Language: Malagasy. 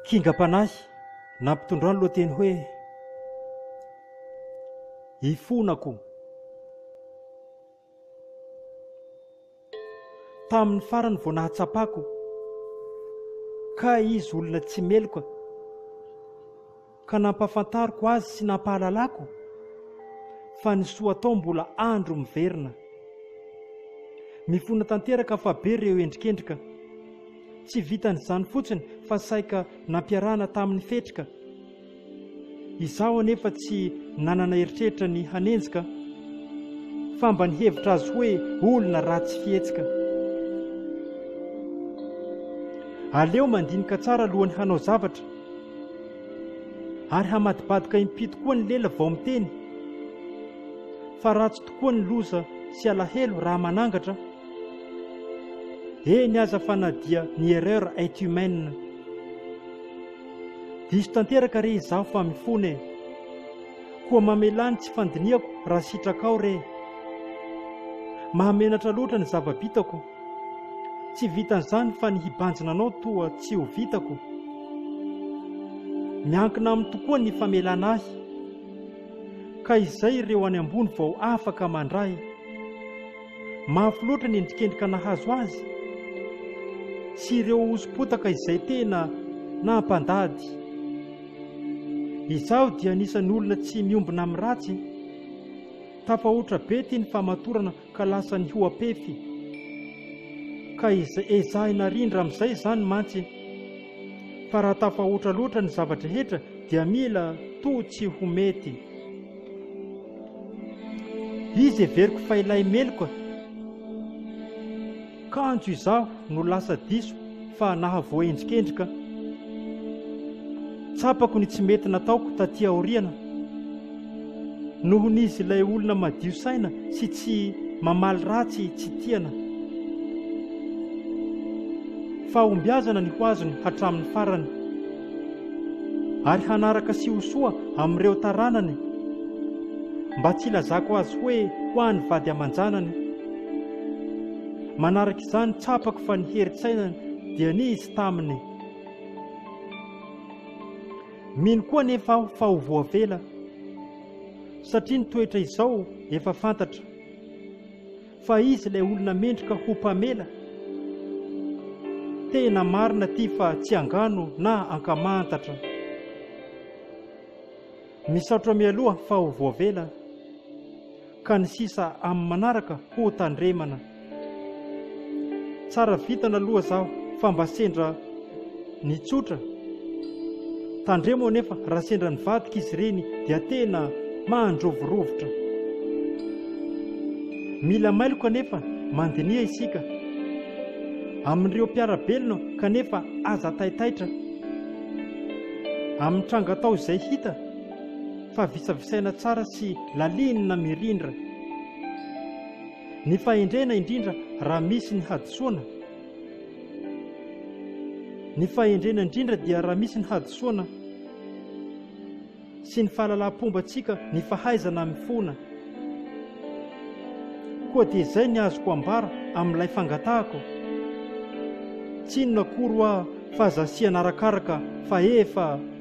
Kingam-panahy nampitondroa ny lohateny hoe Ifonako. Tamin'ny farany vao nahatsapako ka izy olona tsy meloka. ka nampafantariko azy sy nampahalalako fa ny soa atao mbola andro miverina. Mifona tanteraka fa be ireo endrikendrika. Tsy vitan'izany fotsiny fa saika nampiarahana tamin'ny fetrika. Izaho anefa tsy nanana eritreritra ny hanenjika fa mba nihevitra azy hoe olona ratsy fihetsika. Aleo mandinika tsara alohan'ny hanao zavatra. Ary hamadibadika im-pito koa ny lela vao miteny, fa ratsy tokoa ny loza sy alahelo raha manangatra. Eny aza fa na dia ny erreur est humaine. Diso tanteraka re izaho fa mifona e! Koa mamelà ny tsy fandinihako raha sitrakao re! Mahamenatra loatra ny zava-bitako. Tsy vitan'izany fa ny hibanjina anao toa tsy ho vitako. Miankina aminy tokoa ny famelana ahy. Ka izay ireo any ambony vao afaka mandray. Mafy loatra ny endrikendrika nahazo azy. Sy ireo hoso-potaka izay tena nampandady. Izaho dia anisan'ny olona tsy miombona amin'ny ratsy. Tafahoatra be ity ny famatorana ka lasa nihoa-pefy, ka ezahina rindra amin'izay izany mantsy fa raha tafahoatra loatra ny zava-drehetra dia mila toa tsy ho mety. Izy heveriko fa ilay meloka Kanjo izaho no lasa diso fa nahavoaendrikendrika. Tsapako ny tsy mety nataoko taty aoriana. Noho ny izy ilay olona madio saina sy tsy mamaly ratsy tsy tiana. Fahombiazana ny ho azony hatramin'ny farany. Ary hanaraka sy ho soa amin'ireo taranany. Mba tsy ilazako azy hoe ho an'ny vady aman-janany. Manaraka izany, tsapako fa ny herin-tsainany dia nisy taminy. Mino koa anefa aho fa ho voavela, satria ny toetra izao efa fantatra, fa izy ilay olona mendrika ho mpamela. Tena marina ity fa tsy angano na ankamantatra. Misaotra mialoha fa ho voavela. Ka ny sisa amin'ny manaraka ho tandremana. Tsara vintana aloha zaho fa mba sendra ny tsotra. Tandremo anefa raha sendra nivadika izy ireny dia tena mahandrovirovitra. Mila mailo kanefa mandiniha isika amin'ireo mpiara-belona kanefa aza taitaitra amin'ny tranga atao izay hita. fa visavisaina tsara sy lalinina mirindra. Ny fahendrena indrindra raha misy ny hadisoana. Ny fahendrena indrindra dia raha misy ny hadisoana sy ny fahalalaham-pombantsika ny fahaizana mifona. Koa dia izay ny azoko ambara amin'ilay fangatahako. Tsy inona akory hoa fa zasiana arakaraka fa efa